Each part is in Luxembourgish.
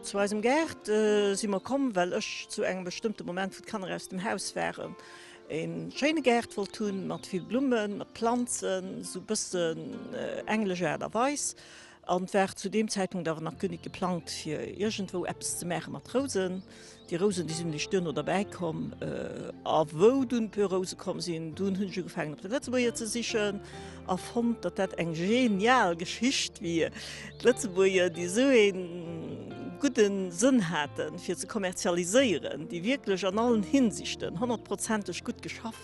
Zu eisem Gaart si mer komm, well ech zu engem bestëmmte Moment, wou d'Kanner aus dem Haus waren, e schéine Gaart wollt hunn, mat vill Blummen, mat Planzen, esou e bëssen englesch Aart a Weis. An et war zu deem Zäitpunkt awer nach guer nit geplangt fir iergendwou eppes ze maache mat Rousen. Déi Rousen, déi sinn lech duerno derbäi komm. A wou dunn puer Rouse komm sinn, dunn hunn ech ugefaangen op de Lëtzebuerger ze sichen a fonnt, datt dat eng genial Geschicht wier. D'Lëtzebuerger, déi esou ee gudde Sënn haten fir ze kommerzialiséieren, déi wierklech an allen Hinsichten honnertprozenteg gutt geschafft,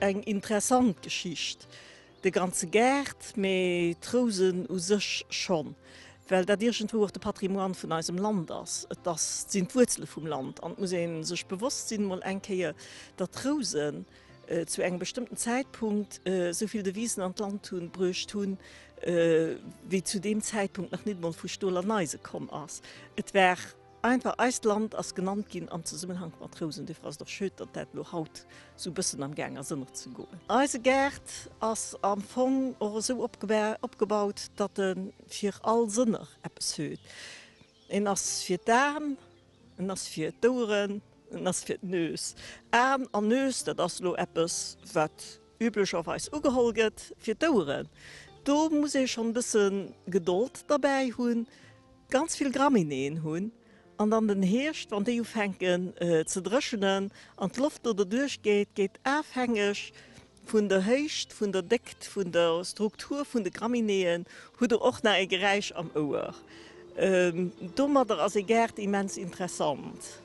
Eng interessant Geschicht, de ganze Gaart, mee d'Rousen u sech schonn, well dat iergendwou och de Patrimoine vun eisem Land ass. Et ass, sinn d'Wuerzele vum Land an et muss ee sech bewosst sinn, mol eng Kéier, datt d'Rousen zu engem bestëmmten Zäitpunkt esou vill Devisen an d'Land hunn, bruecht hunn, wéi zu deem Zäitpunkt nach nit emol vu Stol an Eise komm ass. Et war. Einfach eist Land ass genannt ginn am Zesummenhank mat Rousen. Dofir ass et och schöd, datt dat elo haut esou e bëssen am Gaang ass ënnert ze goen. Eise Gaart ass am Fong och esou opgebaut, datt e fir all Sënner eppes huet. En ass fir d'An, en ass fir d'Oueren, en ass fir d'Nues. An an Nues, dat ass elo eppes wat. üblecherweis ugeholl gëtt fir d'Ouere. Do muss ee schonn e bësse Gedold derbäi hunn, ganz vill Graminéeën hunn an dann den Hierscht, wann déi ufänken ze dréchenen an d'Loft do derduerch geet, geet afhängeg vun der Héicht, vun der Déckt, vun der Struktur vun de Graminéeën, hutt Der och nach e Geräisch am Ouer. Domadder ass e Gaart immens interessant.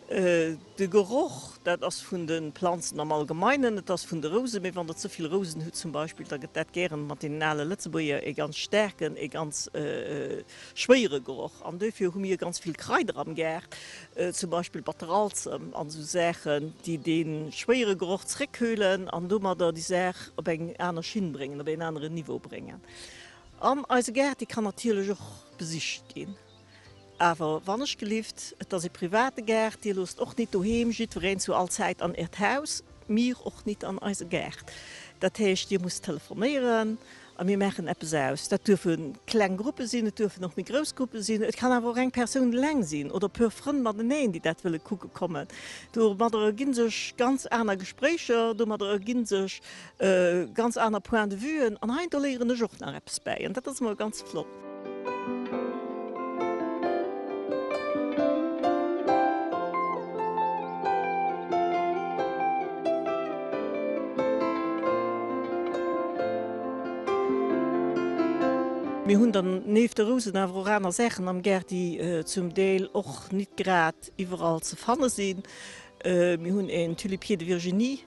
De Geroch, dat ass vun de Planzen am Allgemeinen, et ass vun de Rouse, mee wann Der ze vill Rousen hutt zum Beispill, da gëtt dat gären mat deenen ale Lëtzebuerger ee ganz staarken, ee ganz schwéiere Geroch. An duerfir hu mir ganz vill Kraider am Gaart, zum Beispill Batteralzem an esou Saachen, déi dee schwéiere Geroch zréckkühlen an domadder déi Saach op eng aner Schinn bréngen, op een aneren Niveau bréngen. An eise Gaart, dee kann natierlech och besicht ginn. Awer wannechgelift, et ass ee private Gaart, Dir loosst och nit doheem jiddwereen zu all Zäit an Äert Haus, mir och nit an eise Gaart. Dat heescht, Dir musst telefonéieren a mir maachen eppes aus. Dat duerfe kleng Gruppe sinn, et duerfen och méi grouss Gruppe sinn, et kann awer och eng Persoun eleng sinn oder e puer Frënn mateneen, déi dat wëlle kucke kommen. Domadder ergi sech ganz aner Gespréicher, domadder ergi sech Ganz aner Point de vuen an hei do léieren ech och nach eppes bäi an dat ass emol ganz flott. Mir hunn dann néft de Rousen awer och aner Saachen am Gaart déi zum Deel och nit grad iwwerall ze fanne sinn. Mir hunn een Tulipier de Virginie.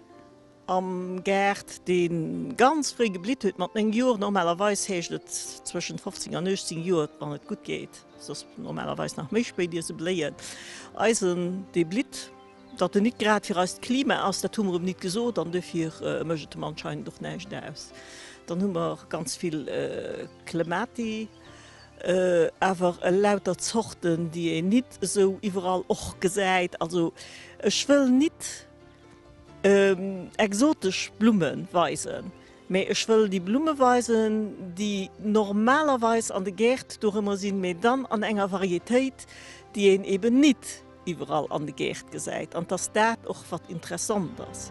Am Gaart, dee ganz fréi geblitt huet, mat néng Joer, normalerweis heescht et zwëschent 15 an 18 Joer, wann et gutt geet, soss normalerweis nach méi spéit, ier se bléien. Eisen, dee blitt. Datt en nit grad fir eist Klima ass, dat hu mer em nit gesot, an dofir mécht et em anscheinend och näischt aus. Dann hu mer ganz vill Clemati, awer elauter Zorten, déi een nit esou iwwerall och gesäit. Also ech wëll nit. exotesch Blumme weisen, mee ech wëll déi Blumme weisen, déi normalerweis an de Gäert dorëmmer sinn, mee dann an enger Varietéit, déi een eben nit iwwerall an de Gäert gesäit, an 't ass dat och, wat interessant ass.